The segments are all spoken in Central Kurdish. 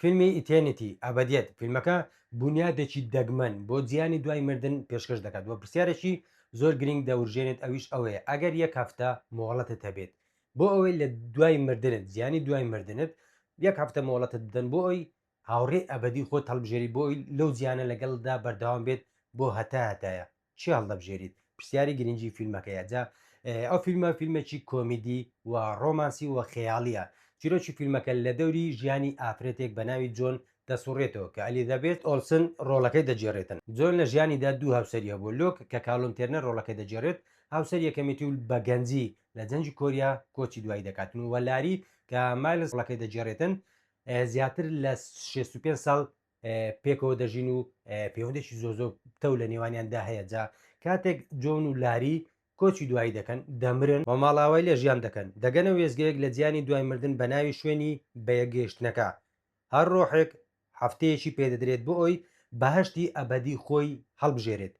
فیلمی Eternity، ئەبەدیەت، فیلمەکە بونیادێکی دەگمەن بۆ جیهانی دوای مردن پێشکەش دەکات و پرسیارێکی زۆر گرینگ دەورژێنێت ئەویش ئەوەیە ئەگەر یەک هەفتە مۆڵەتت هەبێت بۆ ئەوەی لە دوای مردنت جیهانی دوای مردنت یەک هەفتە مۆڵەتت بدەن بۆ ئەوەی هاوڕێی ئەبەدی خۆت هەڵبژێری بۆ ئەوەی لەو جیهانە لەگەڵتدا بەردەوام بێت بۆ هەتا هەتایە چی هەڵدەبژێریت پرسیاری گرنگی فیلمەکەیە جا ئەو فیلمە فیلمێکی کۆمیدی و ڕۆمانسی و خەیاڵیە چیرۆکی فیلمەکە لە دەوری ژیانی ئافرەتێک بە ناوی جۆن دەسوڕێتەوە کە ئەلیزابێت ئۆلسن ڕۆڵەکەی دەگێڕێتن جۆن لە ژیانیدا دوو هاوسەری هەبوو لۆک کە کالۆن تێرنەر ڕۆڵەکەی دەگێڕێت هاوسەر یەکەمێتی و بە گەنجی لە جەنگی کۆریا کۆچی دوایی دەکاتن و لاری کە مایلزڵەکەی دەگێڕێتن زیاتر لە 65 ساڵ پێکەوە دەژین و پەیوەندێکی زۆر زۆر تەو لە نێوانیاندا هەیە جا کاتێک جۆن و لاری کۆچی دوایی دەکەن دەمرن و ماڵاوای لە ژیان دەکەن دەگەنە وێزگەیەک لە جیانی دوای مردن بە ناوی شوێنی بەیەکگەیشتنەکە هەر ڕۆحێک هەفتەیەکی پێدەدرێت بۆ ئەوی بەهەشتی ئەبەدی خۆی هەڵبژێرێت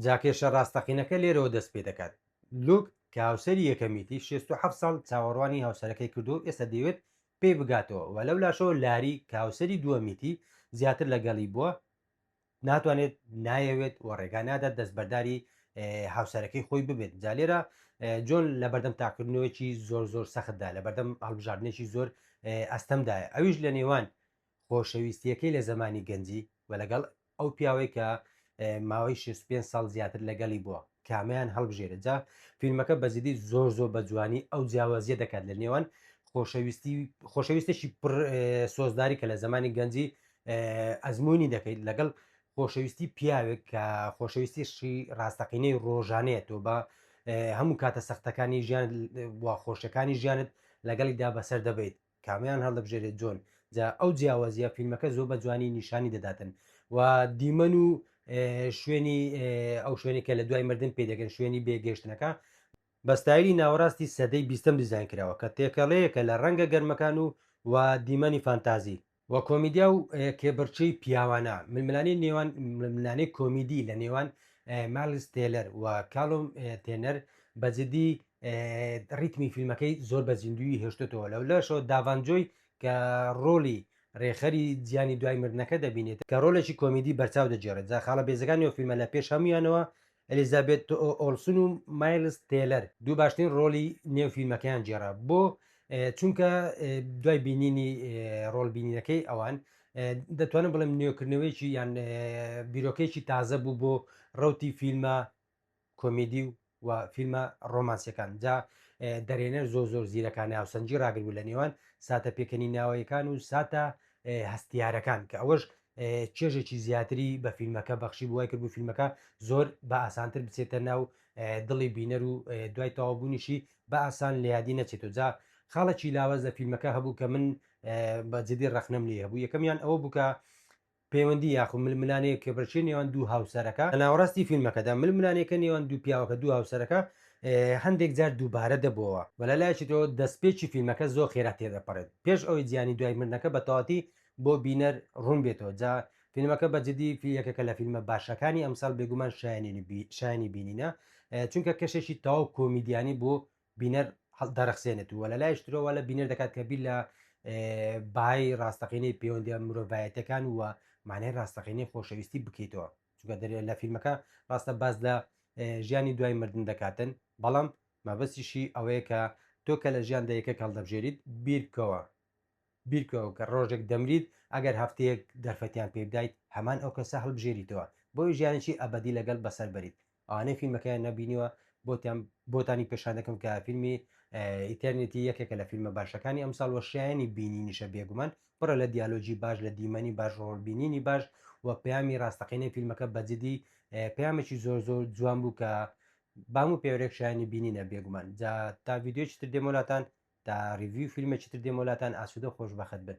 جا کێشە ڕاستەقینەکە لێرەوە دەست پێ دەکات لوک کە هاوسەری یەکەمیتی شێست و حەفت ساڵ چاوەڕوانی هاوسەرەکەی کردووە و ئێستا دەیەوێت پێی بگاتەوە و لەو لاشەوە لاری کە هاوسەری دووەمیتی زیاتر لەگەڵی بووە ناتوانێت نایەوێت و ڕێگا نادات دەستبەرداری هاوسەرەکەی خۆی ببێت جالێرە جۆن لە بەردەم تاکردنەوەیکی زۆر زۆر سەختدا لە بەردەم هەڵبژاردنێکی زۆر ئەستەمدایە ئەویش لە نێوان خۆشەویستیەکەی لە زمانی گەنجی و لەگەڵ ئەو پیاوەی کە ماوەی 65 ساڵ زیاتر لەگەڵی بووە کامیان هەڵبژێرە جا فیلمەکە بەزیدی زۆر زۆر بە جوانی ئەو جیاوازیە دەکات لە نێوان خۆشەویستی خۆشەویستێکی پر سۆزداری کە لە زمانی گەنجی ئەزمموی دەکەیت لەگەڵ خۆشەویستی پیاوێک کە خۆشەویستیشی ڕاستەقینەی ڕۆژانەیە تۆ بە هەموو کاتە سەختەکانی ژیان خۆشەکانی ژیانت لەگەڵیدا بەسەر دەبیت کامیان هەڵدەبژێرێت جۆن جا ئەو جیاوازیە فیلمەکە زۆر بە جوانی نیشانی دەداتن و دیمەن و شوێنی ئەو شوێنی کە لە دوای مردن پێ دەگەن شوێنی بێگەشتنەکە بەستایلی ناوەڕاستی سەدەی بیستم دیزان کراوە کە تێکەڵەیەکە لە ڕەنگە گەرمەکان و و دیمەنی فانتازی و کۆمیدیا و کێبڕچەی پیاوانە ململانی نێوان ململانەی کۆمیدی لە نێوان مالستێلەر و کاڵۆم تێنەر بەجددی ڕیتمی فیلمەکەی زۆر بە زیندوی هێشتێتەوە لەو لەشەوە داڤانجۆی کە ڕۆلی ڕێخەری زیانی دوای مردنەکە دەبینێت کە ڕۆلێکی کۆمیدی بەرچاو دەجێڕێت جا خاڵە بێزەکانی و فیلمە لە پێش هەمویانەوە ئەلیزابێت ئۆلسون و مایلز تێلەر دوو باشترین ڕۆلی نێو فیلمەکەیان جێرا بۆ چونکە دوای بینینی ڕۆل بینینەکەی ئەوان دەتوانم بڵێم نوێکردنەوەیکی یان بیرۆکەیەکی تازە بوو بۆ ڕوتی فیلمە کۆمیدی و و فیلمە ڕۆمانسیەکان جا دەرێنەر زۆر زۆر زیرەکانە هاوسەنجی ڕاگربوو لە نێوان ساتە پێکەنی ناوەیەکان و ساتە هەستیارەکان کە ئەوەش چێژێکی زیاتری بە فیلمەکە بەخشی بووای کردبوو فیلمەکە زۆر بە ئاسانتر بچێتە ناو دڵی بینەر و دوای تەوابوونیشی بە ئاسان لە یادی نەچێت و جا خاڵێکی لاوەز لە فیلمەکە هەبوو کە من بە جدی ڕخنم لێ هەبوو یەکەمیان ئەوە بووکە پەیوەندی یاخود ململانێ کێبڕکێی نێوان دوو هاوسەرەکە، لە ناوەڕاستی فیلمەکەدا ململانێکە نێوان دوو پیاوەکە دوو هاوسەرەکە هەندێک جار دووبارە دەبۆوە، وە لە لایەکی ترەوە دەستپێکی فیلمەکە زۆر خێرا تێدەپەڕێت پێش ئەوەی جیانی دوای مردنەکە بە تەواوەتی بۆ بینەر ڕوون بێتەوە جا فیلمەکە بە جدی یەکێکە لە فیلمە باشەکانی ئەمساڵ بێگومان شایەنی بینینە چونکە کەشێکی تەواو کۆمیدیانی بۆ بینەر دەرەخسێنێت و لە لایش ترەوە لە بینەر دەکات کە بیر لە بای ڕاستەقینەی پەیوەندی مرۆڤایەتەکان وە مانای ڕاستەقینەی خۆشەویستی بکەیتەوە چونکە دەرێت لە فیلمەکە ڕاستە باز لە ژیانی دوای مردن دەکاتن بەڵام مەبەستیشی ئەوەیە کە تۆ کە لە ژیان دەیەکە کەڵدەبژێریت بیرکەوە بیرکەوە کە ڕۆژێک دەمریت ئەگەر هەفتەیەک دەرفەتیان پێ بدایت هەمان ئەو کەسە هەڵبژێریتەوە بۆی ژیانێکی ئەبەدی لەگەڵ بەسەر بەریت ئەوانەی فیلمەکەیان نەبینیوە بۆتان بۆتانی پێشان دەکەم کە فیلمی ئیتەرنێتی یەکێکە لە فیلمە باشەکانی ئەمساڵ وە شایانی بینینیشە بێگومان پڕە لە دیالۆجی باش لە دیمەنی باش ڕۆڵبینینی باش و پەیامی ڕاستەقینەی فیلمەکە بەجددی پەیامێکی زۆر زۆر جوان بوو کە بام و پێورێک شایانی بینینە بێگومان جا تا ویددیوی تر دێمۆلاتان تا ریڤیوی فیلمێکی تر دێمە لاتان ئاسوودە خۆش بەخت بن